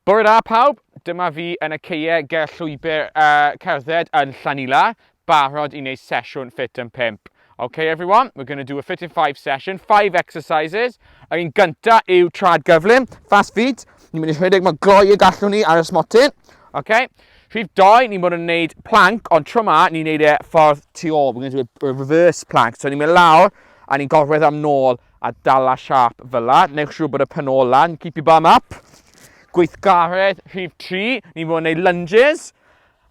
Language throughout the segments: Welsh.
Bore da pawb, dyma fi yn y ceie ger llwybr uh, cerdded yn Llanila, barod i wneud sesiwn Fit and Pimp. Okay everyone, we're going to do a Fit and 5 session, 5 exercises. Yr un gynta yw trad gyflym, fast feet. Ni'n mynd i rhedeg mor gloi y gallwn ni ar y smotyn. Okay. Rhif 2, ni'n bod yn gwneud plank, ond tro ma, ni'n gwneud e ffordd tu ôl. We're going to do a reverse plank. So ni'n mynd lawr a ni'n gorwedd am nôl A dala siâp fela, newch siŵr bod y pen ôl lan, keep your bum up. Gweithgaredd rhif 3, ni'n fod yn neud lunges,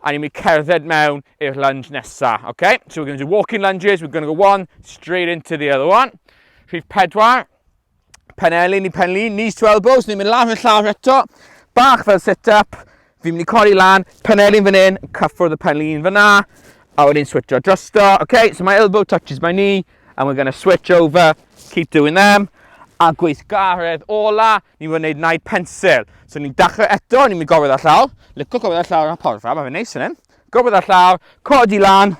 a ni'n mynd cerdded mewn i'r lunge nesa, okay? So we're going to do walking lunges, we're going to go one, straight into the other one. Rhif 4, penelin i penlin, knees to elbows, ni'n mynd lawr i'r llawr eto, bach fel sit-up, Fi'n mynd i codi lan, penelin fan hyn, cyffwrdd y penelin fyna, a wedyn switcho drosto. Okay, so my elbow touches my knee, and we're going to switch over, keep doing them. A gweithgaredd ola, ni'n mynd i wneud naid pensil. So ni'n dachrau eto, ni'n mynd i gofod ar llawr, licio gofod ar llawr yn porfa, mae fe'n neis yn hyn. Gofod ar llawr, codi lan,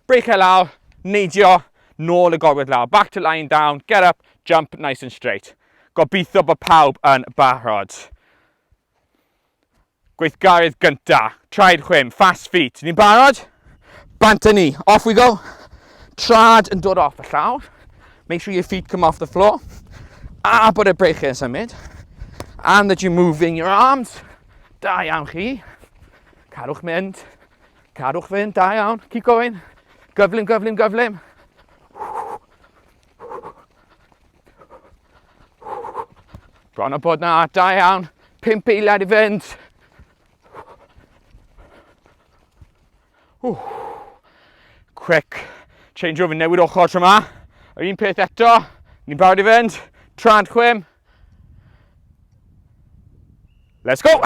breichau lawr, neidio, nôl y gofod lawr, back to lying down, get up, jump nice and straight. Gobeithio bod pawb yn barod. Gweithgaredd gynta, traed chwim, fast feet. Ni'n barod? Bant â ni. Off we go. Trad yn dod off y llawr. Make sure your feet come off the floor. A bod y breichau yn symud. And that you're moving your arms. Da iawn chi. Cadwch mynd. Cadwch fynd, da iawn. Keep going. Gyflym, gyflym, gyflym. Bron o bod na, da iawn. Pimp eiliad i fynd. Ww. Quick. Change over, newid ochr tro yma. Yr un peth eto. Ni'n barod i fynd. Trant chwim. Let's go!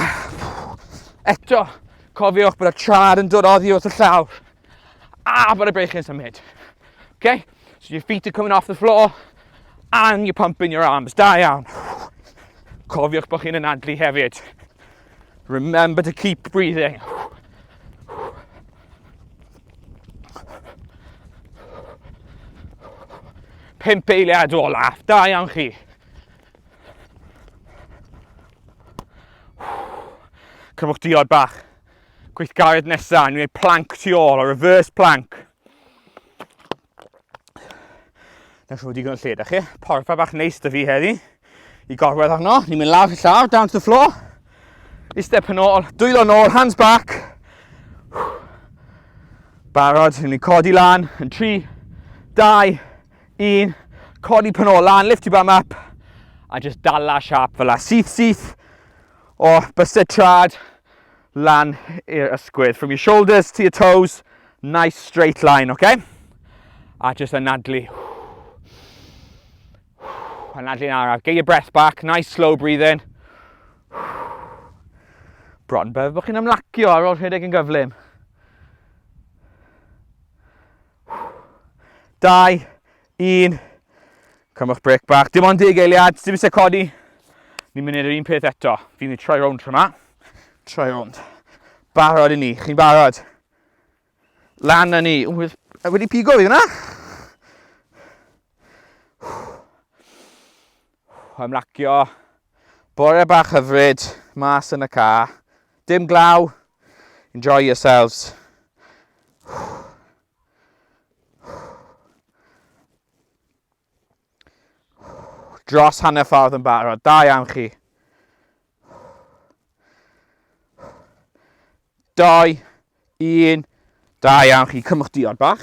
Eto, cofiwch bod y char yn dod oddi wrth y llawr. A bod y beichi'n symud. Okay? So your feet are coming off the floor and you're pumping your arms. Da iawn. Cofiwch bod chi'n anadlu hefyd. Remember to keep breathing. Pimp eiliad o laff, da iawn chi. Cymwch diod bach. Gweithgaredd nesaf, ni'n gwneud plank tu ôl, a reverse plank. Na siw digon o lle, da chi? Porfa bach neis da fi heddi i gorwedd arno. Ni'n mynd lawr y llaw, down to the floor. I step yn ôl, dwylo yn ôl, hands back. Barod, ni'n codi lan yn 3, 2, 1. Codi pan ôl lan, lift your bum up. A just dala siap fel la. Syth, syth. O, bystod trad. lan i'r ysgwydd. From your shoulders to your toes, nice straight line, oce? Okay? A just anadlu. Anadlu'n araf. Get your breath back, nice slow breathing. Bron beth bod chi'n ymlacio ar ôl rhedeg yn gyflym. Dau, Un. Cymwch brec bach. Dim ond deg eiliad, dim eisiau codi. Ni'n mynd i'r un peth eto. Fi'n mynd i troi rownd rhywma. Troi rownd. Barod i ni. Chi'n barod? Lan na ni. Ww, wedi pigo fi hwnna? Ymlacio. Bore bach hyfryd. Mas yn y ca. Dim glaw. Enjoy yourselves. Dros hanner ffordd yn barod. Da iawn chi. Doi, un. Da iawn chi. Cymwch diod bach.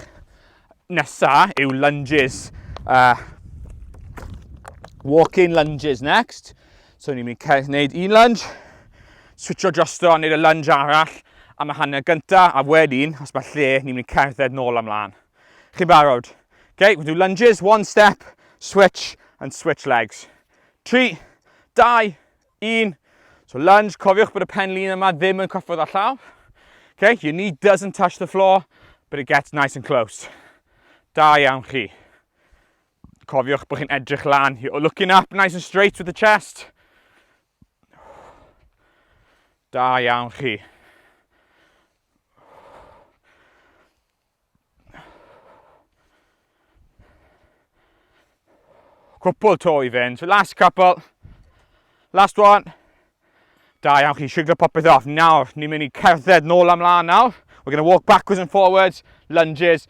Nesa yw lunges. Uh, walk-in lunges next. So ni'n mynd i wneud un lunge, switcho drosto a wneud y lunge arall am y hanner gynta, a wedyn, os mae lle, ni'n mynd i cerdded nôl amlaen. Chi'n barod? Okay, we'll do lunges, one step, switch, and switch legs. 3, 2, 1. So lunge, cofiwch bod y pen lun yma ddim yn cyffwrdd â llaw. Okay, your knee doesn't touch the floor, but it gets nice and close. Da iawn chi. Cofiwch bod chi'n edrych lan. You're looking up nice and straight with the chest. Da iawn chi. Cwpl to i fynd. So last couple. Last one. Da iawn chi, siglo popeth off. Nawr, ni'n mynd i cerdded nôl amlaen nawr. We're going to walk backwards and forwards, lunges,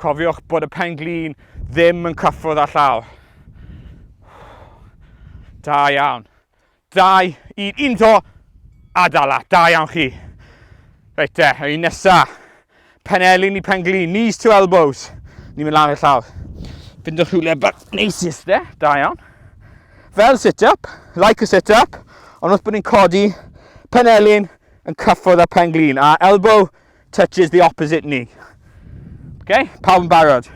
Cofiwch bod y pen glin ddim yn cyffwrdd â llaw. Da iawn. Dau, un, un to, a dala. Da iawn chi. Reit te, y un nesa. Pen elin i pen glin, knees to elbows. Ni'n mynd lan i'r llaw. Fyndwch rhywle bach neis is de, da iawn. Fel sit-up, like a sit-up, ond wrth bod ni'n codi pen elin yn cyffwrdd â pen glin, a elbow touches the opposite knee. Okay, pawb yn barod.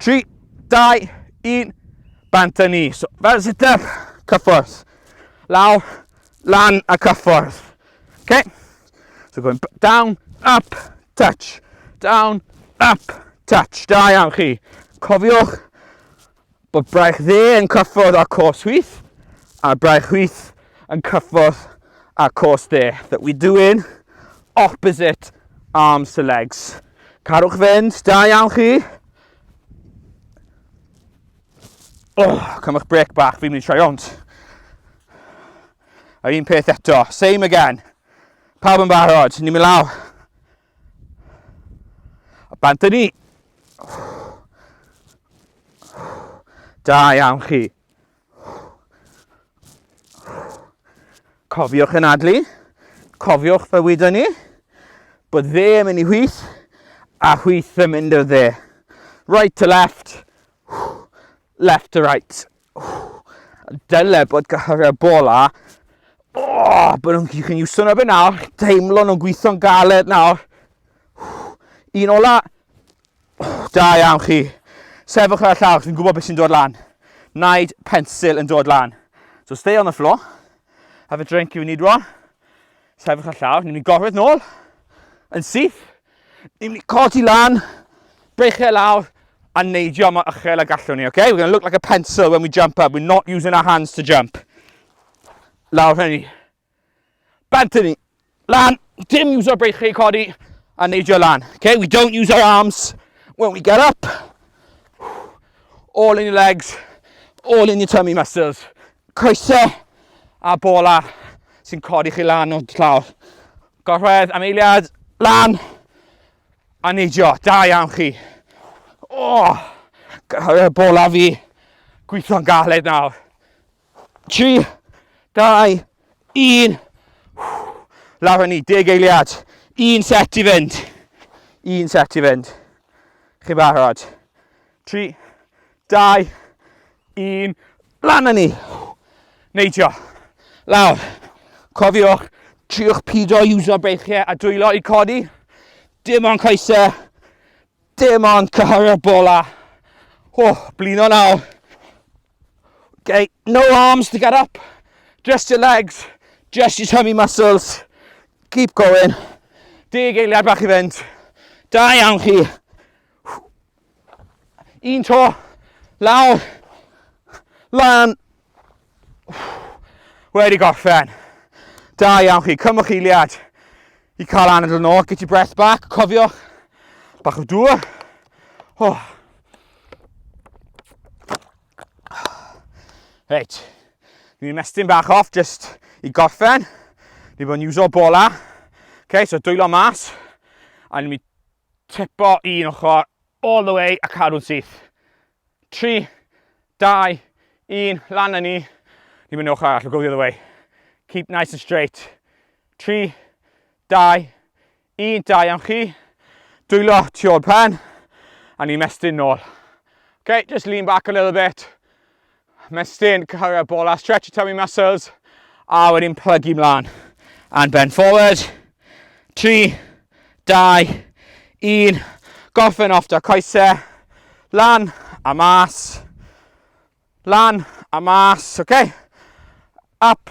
3, 2, 1, bant a ni. So, fel sit up, cyffwrdd. Lawr, lan a cyffwrdd. Okay, so going down, up, touch, down, up, touch. Da iawn chi. Cofiwch bod braich dde yn cyffordd â cos hwyth a braich hwyth yn cyffordd â cos dde. That we're doing opposite arms to legs. Carwch fynd, da iawn chi. Oh, cymwch brec bach, fi'n mynd i troi ond. A'r un peth eto, same again. Pawb yn barod, ni'n mynd law. A bant â ni! Da iawn chi. Cofiwch yn adlu, cofiwch fe wydo ni, bod dde yn mynd i hwyth, a hwyth yn mynd o dde. Right to left, left to right. Dyle bod gyhyrau bola. O, oh, bod nhw'n chi'n iwso na fe nawr. Teimlo nhw'n gweithio'n galed nawr. Un ola. Da iawn chi. Sefwch ar y llawr, fi'n gwybod beth sy'n dod lan. Naid pensil yn dod lan. So stay on the floor. Have a drink if you need one. Sefwch ar y llawr. Ni'n mynd gorfod nôl. Yn syth. Ni'n mynd i codi lan, breichiau lawr, a neidio mor uchel a gallwn ni, okay? We're going to look like a pencil when we jump up. We're not using our hands to jump. Lawr hynny. Bant hynny. Lan, dim use o'r breichiau codi, a neidio lan. Okay? We don't use our arms when we get up. All in your legs, all in your tummy muscles. Coesau a bola sy'n codi chi lan o'r llawr. Gorwedd am eiliad, lan, a neidio, da iawn chi. O, oh, gorwedd bola fi, gweithio'n galed nawr. 3, 2, 1, lawr hynny, deg eiliad, un set i fynd, un set i fynd. Chi'n barod? 3, 2, 1, lan â ni! Neidio, lawr. Cofiwch, triwch pido i uso beichiau a dwylo i codi. Dim ond coesau, dim ond cyhyrio'r bola. O, blino nawr. Okay, no arms to get up, just your legs, just your tummy muscles. Keep going. Deg eiliad bach i fynd. Da iawn chi. Un to, lawr, lan. Wedi gorffen. Da iawn chi, cymwch eiliad i cael anadl yn ôl, get your breath back, cofiwch, bach o dŵr. Oh. Reit, ni'n mestyn bach off just i gorffen. Ni bod yn iwso bola. Okay, so dwylo mas. A ni'n mynd Typo un ochr all the way a cadw'n syth. 3, 2, 1, lan â ni. Ni'n mynd ochr arall, we'll go the other way. Keep nice and straight. 3, 2, 1, da iawn chi. Dwylo tu ôl pen, a ni'n mestyn nôl. Okay, just lean back a little bit. Ymestyn, cyrraedd bola, stretch your tummy muscles. A wedyn plygu mlaen. And bend forward. 3, 2, 1. Gorffen off da coesau. Lan a mas. Lan a mas, oce? Okay? Up,